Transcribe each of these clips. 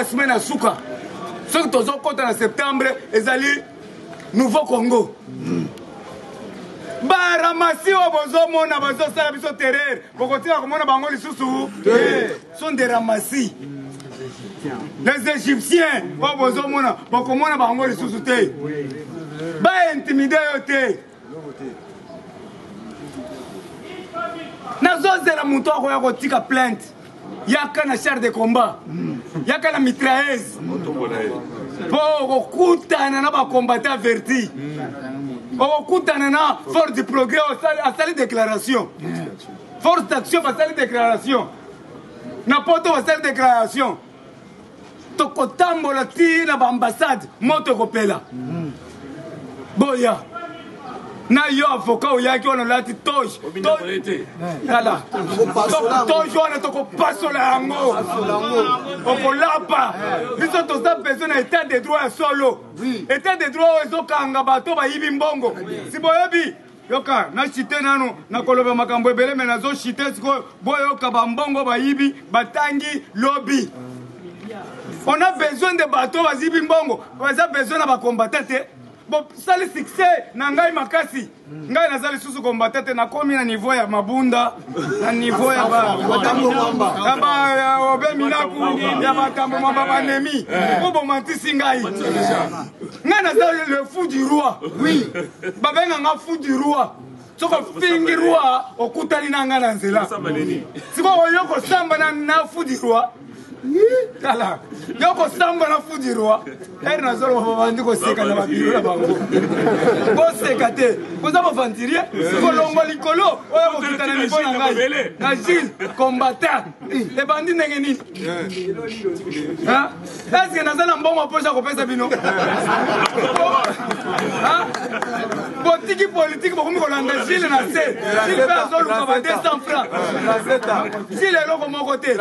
semaine na suka soki tozokɔta na septembre ezali nouveau congo baramasi oyo bozomona bazosala biso terreur bokotika komona bango lisusu te sont des ramassis les égyptiens oyo bozomona bokomona bango lisusu te baintimide yo te nazozela moto akoya kotika plainte yaka na char de combat yaka na mitraise mpo okokutana na bacombatant verti okokutana na force du progrès asali déclaration force d'action basali déclaration na poto basali déclaration tokotambola ti na baambassade moto ekopela mm. boya na yo avoka oyaki wana olati toge tala toge wana tokopasola yango okolapa biso toza besoin na état de droit ya solo état de droit oyo ezokanga bato bayibi mbongo si boyebi yoka na chite nanu nakoloba makambo ebele me nazo chite sikoyo boyoka bambongo bayibi batangi lobi on a besoin de bato bazibi mbongo baza besoin na bakombata te bosali succès na ngai makasi ngai naza lisusu kombata te nakomi na niveau ya mabunda na niveau ya baobe minaku ya batambo mamba banemi eh. obomantisi ngai nga naza le fou du roi oui babenga nga fou du roi soki ofingi roi okutani na nga na nzela sikoyo oyo kosamba na fou du roi tala yo kosamba na fou du roi ere nazoloba babandi koseka na babiro na bango boseka te boza bavantirie kolongwa likolo oyo kokita na nivo na ngai na gile combatant ebandi ndenge nini eske naza na mbongo mposa kopesa bino botiki politike bokomi kolanda jile na se jile mpe azoluka ba 200 franc jile eloko moko te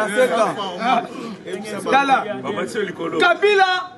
tala kabila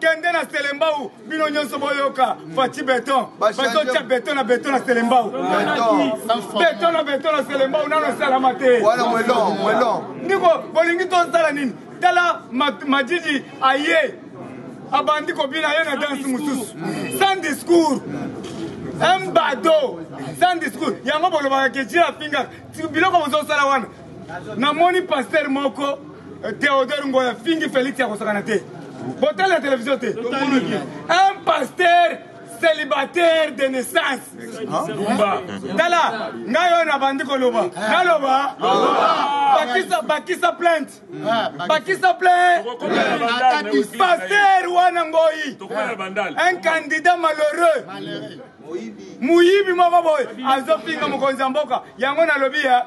kende na selembau bino nyonso boyoka faci beton bazotya beton na beton na selembau beton na beton na selembau nano esalama te ndiko bolingi tosala nini tala majiji aye abandi kobina ye na danse mosusu sans discours un bado sans discours yango bolobaka ke jila afingaka biloko bozosala wana namoni pasteur moko eh, Theodore Ngoya fingi Felix ya kosakana te botali ya televizio te un pasteur célibataire de naissance tala ngai oyo nabandi koloba naloba bakisa bakisa plainte bakisa plainte pasteur wana ngoi un candidat malheureux moyibi moko boye azofinga mokonzi ya mboka yango nalobi ya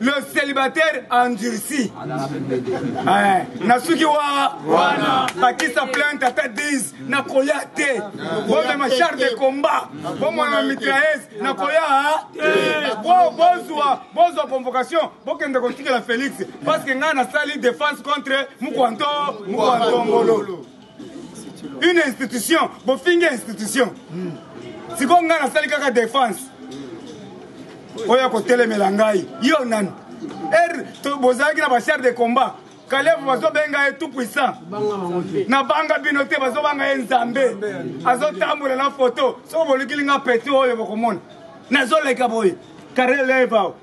le célibataire endurci eh, nasuki wa wana bakisa plainte ata 10 nakoya te bomema char de combat bomona mitraese nakoya bozwa bozwa convocation bokende kotikela félix parce que ngai nasali défense contre mukwanto mukwantongolo une institution bofingi institution hmm. sikoyo ngai nasali kaka defense hmm. oyo akotelemela ngai yo nani er bozalaki na bachar de combat kalevu bazobenga ye tout puissant nabanga bino te bazobanga ye nzambe azotambola na foto soki bolikili nga peti oyo bokomona nazoleka boye karelevao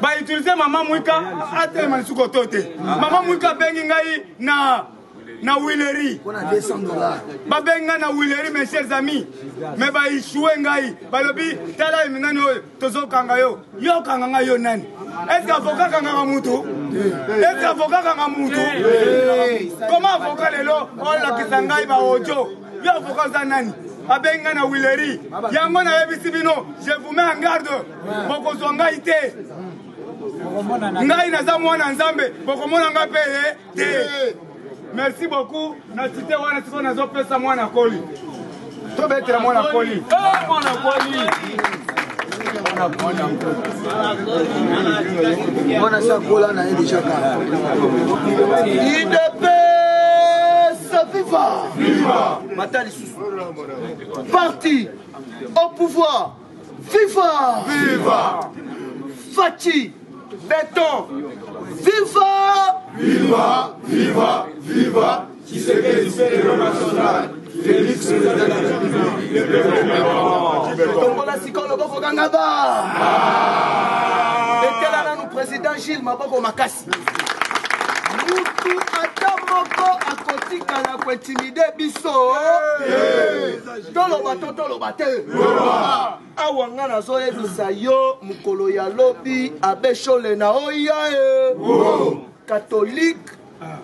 ba utiliser mama mwika atelema lisusu koto te mama mwika abengi ngai na na wileri babengi ngai na wileri mes chers amis me baishue ngai balobi tala eminani oyo tozokanga yo yo okanga ngai yo nani eske avoka kangaka mutu eske avoka kanga mutu koma avoka lelo olakisa ngai baojo yo avoka oza nani abengi ngai na wileri yango nayebisi bino je vous mets en garde bokozwa ngai te ngai naza mwana nzambe bokomona ngai mpe ye eh, te merci beaucoup na site wana sikoyo nazopesa mwana koli tobetela mwana koli eh, mwana koli mwana si akola na ye deja kaka idepesa viva mata lisusu parti au pouvoir Viva! Viva! Fatshi Beton! Viva! Viva! Viva! Viva! Tshisekedi Héros National! Félix Tombola sikoyo loboko kanga ba! Ah! Etela nanu président Gilles maboko makasi. Mutu ata moko akotikala kointimide biso. Hey! toloba to toloba te awa nga nazoyebisa yo mokolo ya lobi abeshole na oya e katolike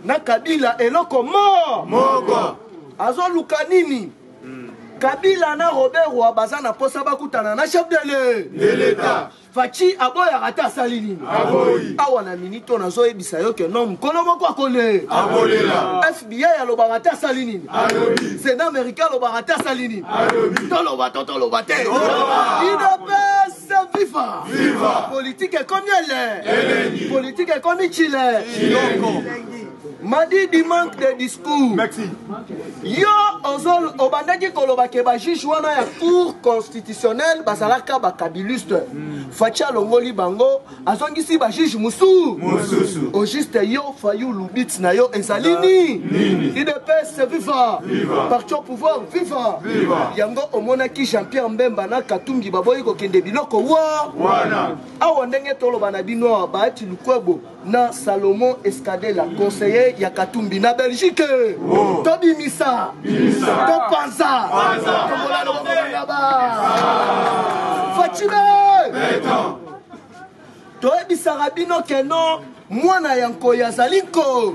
na kabila eloko mo moko azoluka nini hmm. kabila na robert wa baza na mposa bakutana na chef de l'etat Fatshi aboyaka ata asali nini? Aboyi. Awa na mini to nazo yebisa yo que non mukolo moko akole. Abolela. FBI alobaka ata asali nini? Alobi. Sénat américain alobaka ata asali nini? Alobi. Toloba to toloba te. Toloba. Udps viva. Viva. Politique ekomi ele. Elengi. Politique ekomi chile. Chiloko. Elengi. Madidi manque de discours. Merci. Yo ozol obandaki koloba ke ba juge wana ya cour constitutionnelle bazalaka ba kabiliste. Mm. Fatshi alongoli bango azongisi ba juge musu. Mususu. Au juste yo fayu lubit na yo ezali ni. Nini. IDPS viva. Viva. Parti au pouvoir viva. Viva. Yango omonaki Jean-Pierre Mbemba na Katumbi baboyi kokende biloko wa. Wana. Awa ndenge toloba na bino ba ti lukwebo. na Salomon Escadela, conseiller ya Katumbi na Belgique. Oh. To bimisa, to panza, to bolalo bolanga ba. Fatime. To ebisaka bino keno mwana ya nkoyi azali nko.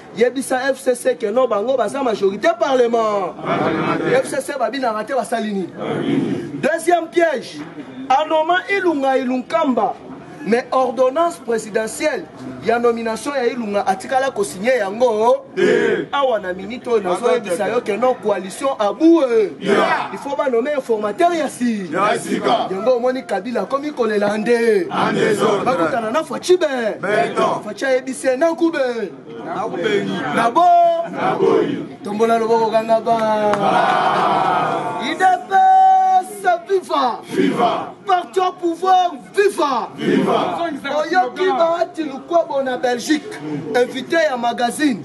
yebisa fcc ke no bango baza majorité parlement fcc babinaka te basali nini deuxième piège anoma ilunga ilunkamba mais ordonnance présidentielle ya nomination ya ilunga atikala kosigne yango awa na minute oyo nazoyebisa yo ke non coalition aboue il faut banome informateur ya si yango omoni kabila akomi kolela nde bakutana na facibe chayebise na kube na bo tombola loboko kanga ba idps viva viva parti au pouvoir viva viva oyoki baati lukwabo na belgique invité ya magazine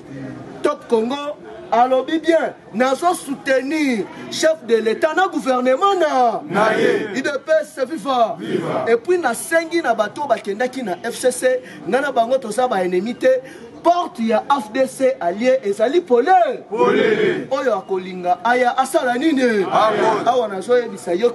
top congo alobi bien nazo soutenir chef de l'etat na gouvernement na naye idps viva epuis nasengi na bato oyo bakendaki na fcc ngai na bango toza baennemi te porte ya afdc alie ezali polele oyo akolinga aya asala nini awa nazoyebisa yo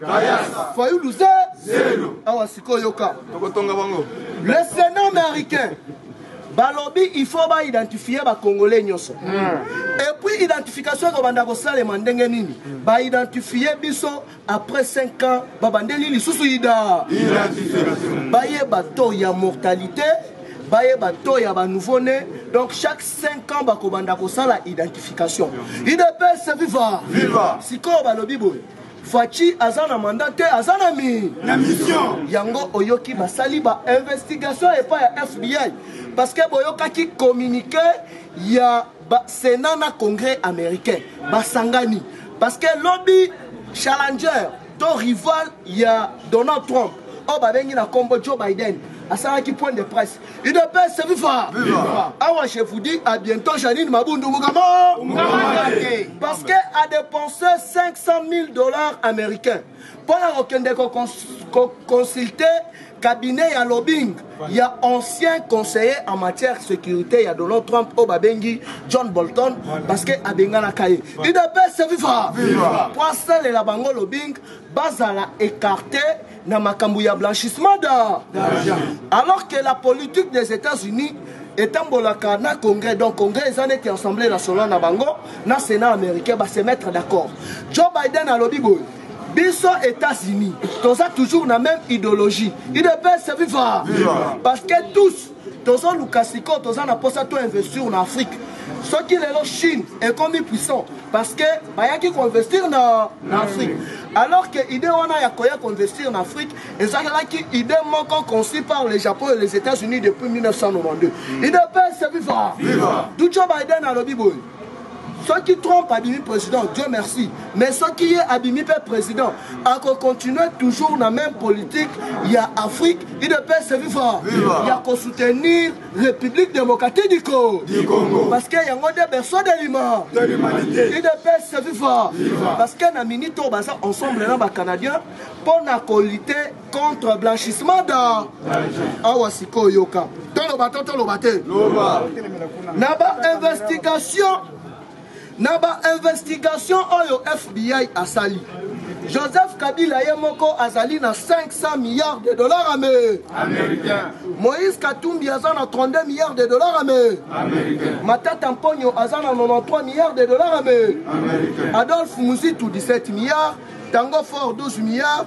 Kayasa. Fayulu ze. Zelo. Awa siko yoka. Tokotonga bango. Le Sénat américain balobi il faut ba identifier ba congolais nyoso mm. et puis identification ko banda ko salema ndenge nini mm. ba identifier biso après 5 ans ba bandeli lisusu ida identification ba ye ba taux ya mortalité bayeba to ya banouveau né donc chaque 5 ans bakobanda kosala identification idps viva sikoyo balobi boye Fatshi aza na mandat te, aza na mi na mission. Yango oyoki basali ba investigation epa ya FBI parce que boyokaki communique ya ba Senat na Congrès américain basangani parce que lobi challenger to rival ya Donald Trump oyo babengi na kombo Joe Biden asalaki point de presse udps viva awa je vous dis à bientôt janine mabundu mukama parce que a dépensé 500 000 dollars américains mpo na kokende koconsulte cabinet ya lobbying ya ancien conseiller en matière sécurité ya donald trump oyo babengi john bolton parce que abenganaka ye udps viva mpo asalela bango lobbying bazala écarté na makambo ya blanchissement d'argent alors que la politique des états-unis etambolaka na congrès donc congrès eza neti assemblée nationale na bango na sénat américain base mettre d'accord joe biden alobi boye biso états-unis toza toujours na même idéologie idps viva parce que tous tozoluka sikoyo toza na mposa to investir na afrique soki lelo chine ekomi puissant parce que bayaki koinvestir na, na afrique alors que idée wana ya koya koinvestir na afrique ezalaki idée moko conçu par les japon et les états-unis depuis 1992 idps viva duco biden alobi boye soki trump abimi président dieu merci mais soki ye abimi mpe président akocontinue toujours na même politique ya afrique idps viva ya kosoutenir république démocratique du congo parce que yango nde berceau de lima idps viva parce que na minute oyo baza ensemble na bacanadien mpo na kolite contre blanchissement d'or awa sikoyo yoka toloba to toloba te na bainvestigation na bainvestigation oyo fbi asali joseph kabila ye moko azali na 500 milliards de dollars ame américain moïse katumbi aza na 32 milliards de dollars ame américain matata mponyo aza na 93 milliards de dollars ame américain adolphe muzitu 17 milliards tango fort 12 milliards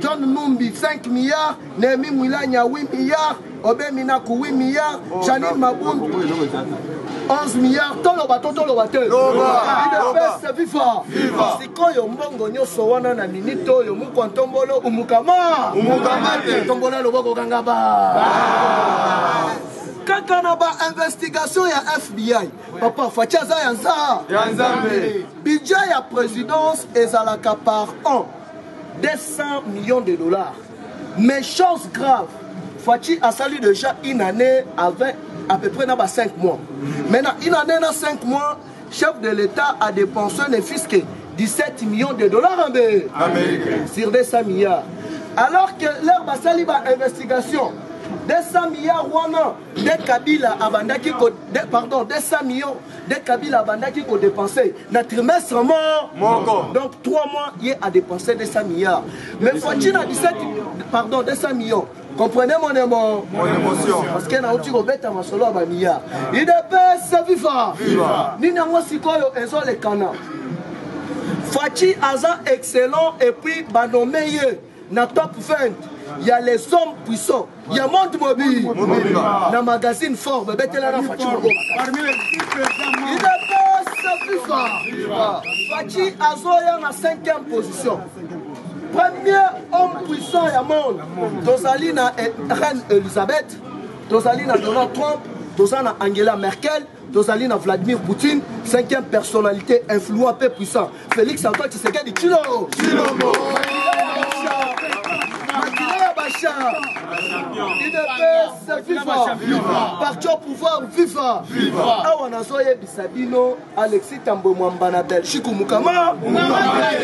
John Numbi 5 milliards, Nehemi Mwilanya 8 milliards, Obe Minaku 8 milliards, oh, Janine Mabundu 11 milliards, toloba to toloba te. Udps viva. Viva. Sikoyo mbongo nyonso wana na minute oyo mukwa ntombolo umukama. Umukama te. Tombola loboko kanga ba. Kaka na ba investigation ya FBI. Papa Fatshi aza ya nza. Ya nzambe. Budget ya présidence ezalaka par an. 200 millions de dollars mais chose grave Fatshi asali déjà une année avec à peu près na ba 5 mois maintenant une année na 5 mois chef de l'état a dépensé ne fils que 17 millions de dollars en Amérique sur 200 milliards alors que leur basali ba investigation 200 milliards wana nde kabila abandaki pardon 200 millions nde kabila abandaki kodepense na trimestre mo moko donc 3 mois ye a dépensé 200 milliards mais fatshi na 17 pardon 200 millions comprenez mon émo mon émotion parce que nauti kobeta masolo ya bamilliard idps ah. viva nini yango sikoyo ezolekana fatshi aza excellent et puis banome ye na top 20 ya les hommes puissants ya monde mobimba na magazine fort babetela na faci idps fifa faci azoya na 5e position premier homme puissant ya monde tozali na reine elisabeth tozali na donald trump toza na angela merkel tozali na vladimir poutine cinquième personnalité influent mpe puissant félix antoine tshisekedi chilo chilombo makila ya basha udps viva parti au pouvoir viva awa nazoyebisa bino alexis tambwe mwamba na belgique mukama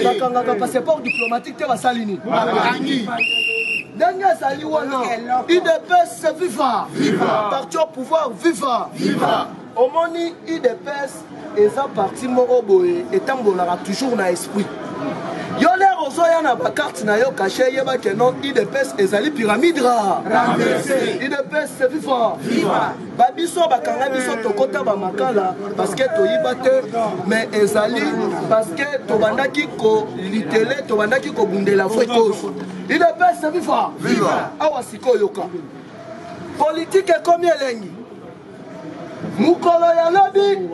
bakangaka passeport diplomatique te basali nini ndenge azali wana idps viva parti au pouvoir viva omoni idps eza parti moko boye etambolaka toujours na esprit yo lere ozoya na bakarte na yo kashe yeba ke non idps ezali pyramide ra idps viva ba biso bakanga biso tokota ba makala parce que toyiba te mais ezali parce que tobandaki ko litele tobandaki kobundela vraie cause udps viva viva awa sikoyoka politike ekomi elengi mokolo ya lobi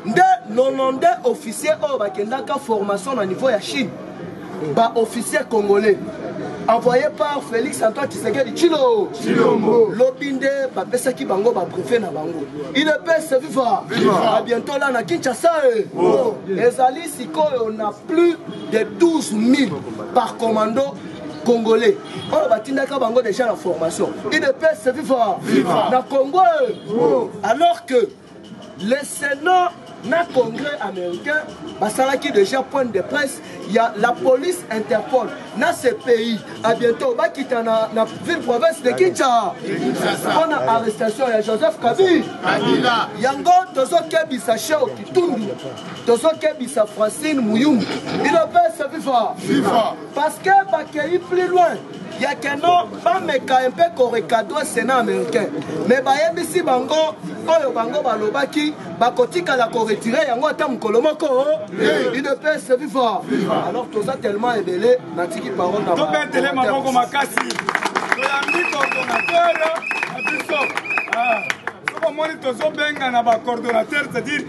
nde 92 officier oyo bakendaka formation na niveau ya chine ba officiers congolais envoyé par félix antoine tshisekedi tshilo tshilombo lobi nde bapesaki bango babrefe na bango idps viva a bientôt la na kinshasa e oh. ezali sikoyo na plus de 12 000 par commando congolais oyo batindaka bango déjà na formation idps viva na congo e oh. alors que Le Sénat na Congrès américain basalaki déjà point de presse ya la police Interpol na ce pays à bientôt bakita na, na ville province de Kinshasa mpo na arrestation ya Joseph Kabila yango tozokebisa Sheo Kitundu tozokebisa Francine Muyumbu bino mpe se viva parce que bakei plus loin ya keno bameka mpe korekadre senat américain me bayebisi bango oyo bango balobaki bakotikala koretire yango ata mokolo moko udps viva alors toza tellement ebele natiki parole na tobetele maboko makasi toyambi coordonnateur na biso ah, soki omoni tozobengana bacoordonnateur c'est-à-dire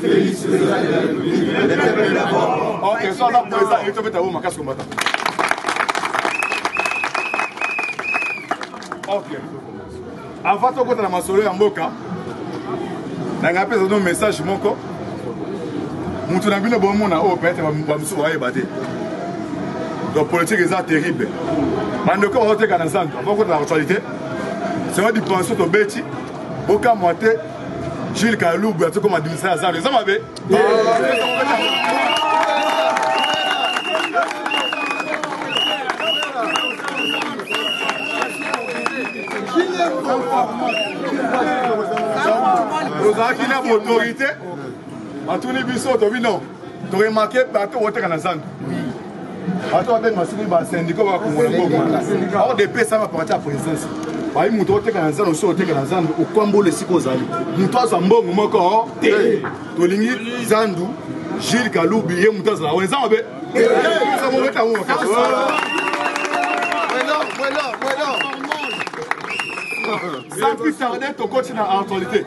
Felix président de la République, le peuple d'abord. Ok, so aza président, il faut mettre makasi combattant. Ok. Avant tokota na masolo ya mboka, nanga pesa no message moko. Mutu na bino bomona oyo peut-être bamosusu bayeba te. Donc politique eza terrible. Bandeko bazoteka na zando, bakota na actualité. C'est vrai dipension tobeti, bokamwa te Jules Kalubu azo koma dimisa ya zalo eza mabe ozalaki na autorité batuni biso tobi non To remarquer bateau oteka na zandu. Bateau abenga masumu ba syndicat ba kongola ngoko. Or de pesa ba parti ya présence. bayi moto oteka na zando osi oteka na zando okwamboli esika ozali moto azwa mbongo moko te tolingi zandu jules kalubi ye moto azala wana eza mabe sans plus tarder tokoti na actualité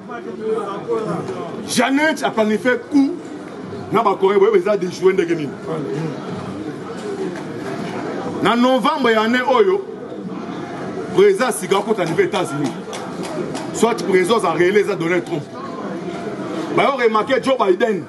Janet a planifié coup na ba Corée boye eza déjouer ndenge nini na novembre ya année oyo président asiga akota niveau états-unis soit président aza réele eza donald trump bayo remarke joe biden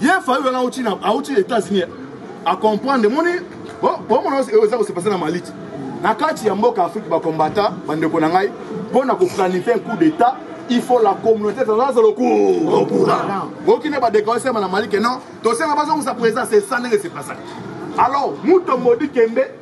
ye fayu wana auti na auti états-unis a comprendre moni bomona oyo eza kosepase na maliti na kati ya mboka afrique bakombata bandeko na ngai mpo na koplanifie un coup d'état il faut la communauté internationale soit au courant bokine badekao esema na mali ke non tosenga bazongisa président c'est ça ndenge sepasaka alors mutombo dikembe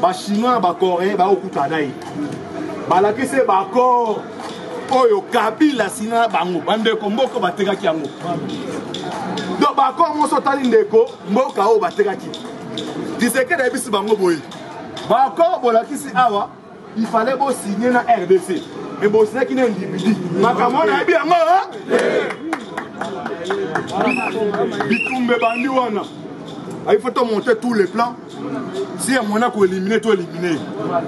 ba chinois na ba coréen baokutana na ye balakisi ye baaccord oyo kabila asina na bango bandeko mboka batekaki yango donc baaccord moso otali ndeko mboka oyo batekaki kisekedi ayebisi bango boye baaccord bolakisi awa il fallait bosigne na rdc me bosinaki na individu makambo wana ayebi yango bitumba ebandi wana il faut tomonte tous les plans si ya mwana ko elimine to elimine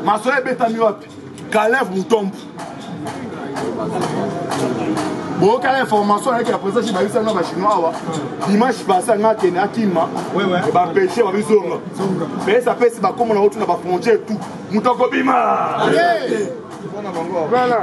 masolo ebetami wapi kalev mutombo boyokala information ayaki ya présence bayebisa nga bachinois awa dimanche passé anga akende akima bapeshe babizonga pesa pesi bakomo na otu na bafrontière tout moto akobima voilà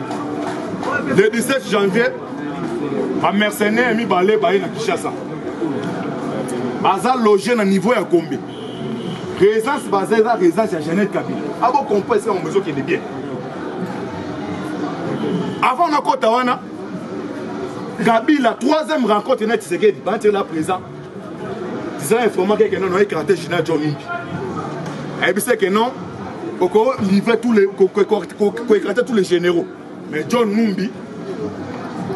le 17 janvier bamercenaire mibale baye na kinshasa baza loge na niveau ya gombe présence baza eza présence ya janete kabila abokompo esika bango ezokende bien avant nakota wana kabila troisième rencontre na tisekedi banatela présent disant informa keke non oye karate jina jo mingi ayebisa ke non oko livre tous les koekrate tous les généraux mais john numbi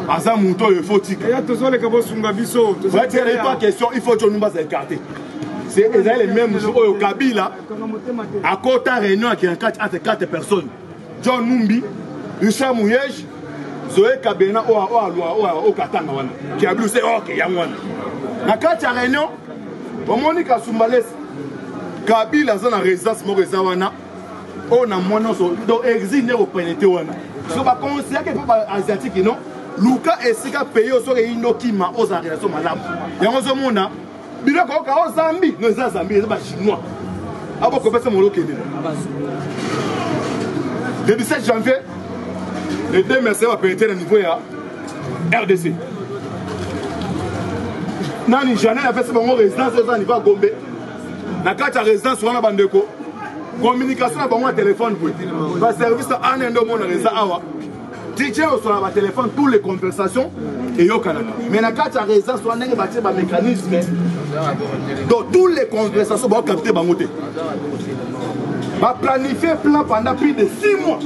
aza moto oyo efo tika tozoleka bosunga biso vatiyela ipa question il faut john numbi aza écarté ezali le même jour oyo kabila akota réunion ya kati entre 4 personnes John Numbi, Richard Muyej, Zoe Kabena oyo oh, oh, alwa oyo oh, okatanga wana kiablu se oke yango wana na kati ya réunion omoni kasumbalesi kabila aza na résidence moko eza wana oyo na mwa nyonso donc exil nde kopenete wana so baconsidake mpe baasiatique non luka esika pays oyo soki eyi ndokima ozala relation malamu yango ozomona bino koyoka o oh, zambi no eza zambi eza bachinois abokopesa molo kende le 17 janvier les deux mercenaires bapelete na niveau ya rdc nani janel apesi bango résidence eza niveau ya gombe na kati ya résidence wana bandeko communication na bango ya telefone boye baservice ya ane nde omonaka eza awa DJ osala ba téléphone tous les conversations eyokanaka mais na kati ya résidence wana ndenge batie ba mécanisme donc tous les conversations baokapte bango te baplanifie plan pendant plus de 6 mois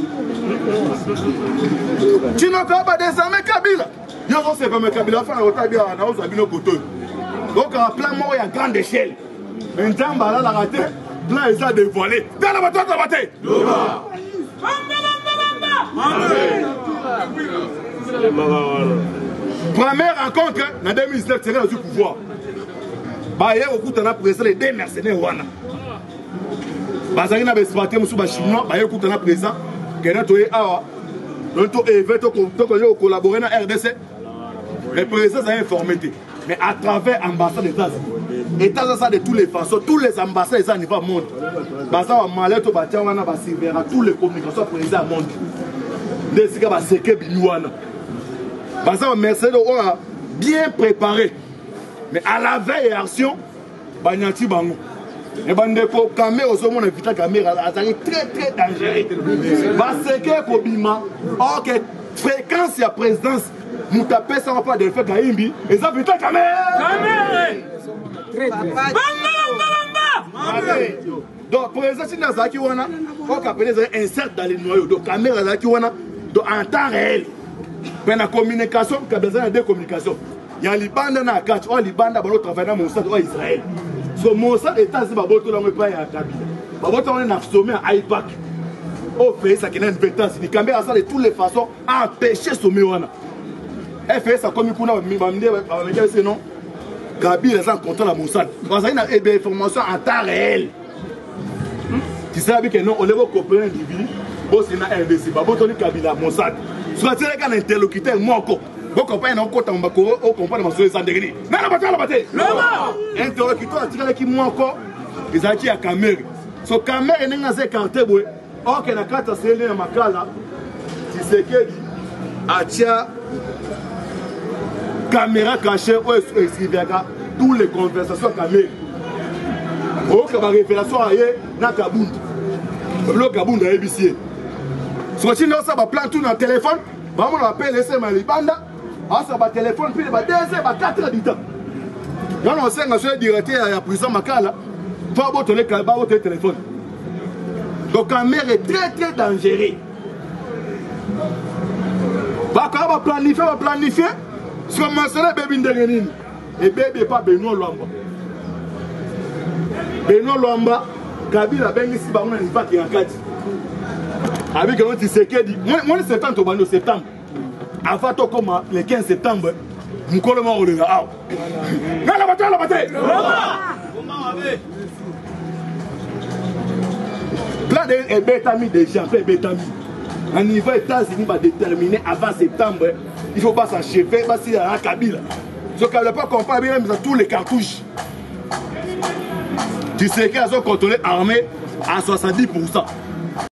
tinokoyeba désormais kabila yo ozosepame kabila afana kotabia naozwa bino kotoyo okaka plan moko ya grande échelle nzambe alalaka te blanc eza dévoilé tala bato ataba te première rencontre na 2019 seke nazwi pouvoir baye kokutana président les deux mercenaire wana bazalaki na baespate mosusu bachinois baye kokutana président kena toye awa to eve tokoye kocollabore na rdc mais président azali informe te mais à travers ambassade des États-Unis états aza de tous les façons tous les ambassades eza niveau monde baza ba malette batia wana ba silvera tous les communications pour eza monde nde esika baseke bimi wana baza ba mercenaires oyo bien préparé mais à la veille action banyati bango e bandeko kame ozomona vita kamera azali très très dangereux baseke ekobima orke fréquence ya présidence moto apesaka mpo adelfe kaimbi eza vita kamere donc président sini azalaki wana okapele ezalaki insert dans le noyau donc kamera azalaki wana donc en temps réel mpe na communication kabila azali na de communication ya libanda na kati oyo libanda balo travaille na mosad oyo israel so mosad etats babotola yango epai ya kabila babotola yango na sommet ya ipac oyo pays akenda na etats-unis kambe asala de toutes les façons apeche some wana fs akomi kuna bamide bamekese non kabila aza na contrat na mosad bazali na eh information en temps réel tisala bike non olebo kopena libi bosi na rdc babotoli kabila mosad soki atilaka na interlocuteur moko bokompani na okota mbako okompani masolo eza ndenge nini nana bato alaba te interlocuteur atikalaki moko ezalaki ya kamere so kamere ndenge aza ekarte boye Ok, na kata sele ya makala Tshisekedi atia caméra cachée oyo escriviaka tous les conversations kamere oyoka barévélation aye na kabund ebilo kabund ayebisi ye soki otindi osala baplan tu na telefone bamona bapelesema ya libanda asala batelefone mpile ba 2 heures ba 4 heures du temps yana osenga soki directeur ya prison makala to abotole telefone donc kamere très très dangereux bakaka baplanifie baplanifie siko masala ebebi ndenge nini ebebi epa benoit lwamba benoit lwamba kabila abengisi bango na lipaki ya kati abikelo tisekedi mwani septembre tobandi septembre avant tokoma le 15 septembre mokolo mwa kolela awa nalaba te alaba te plan de ebetami déjà mpe ebetami na niveau états-unis badetermine avant septembre il faut basacheve basila na kabila soki kabila pas comprendre bimemisa tous les cartouches tiseke azocontrôle armée à 70 pourcent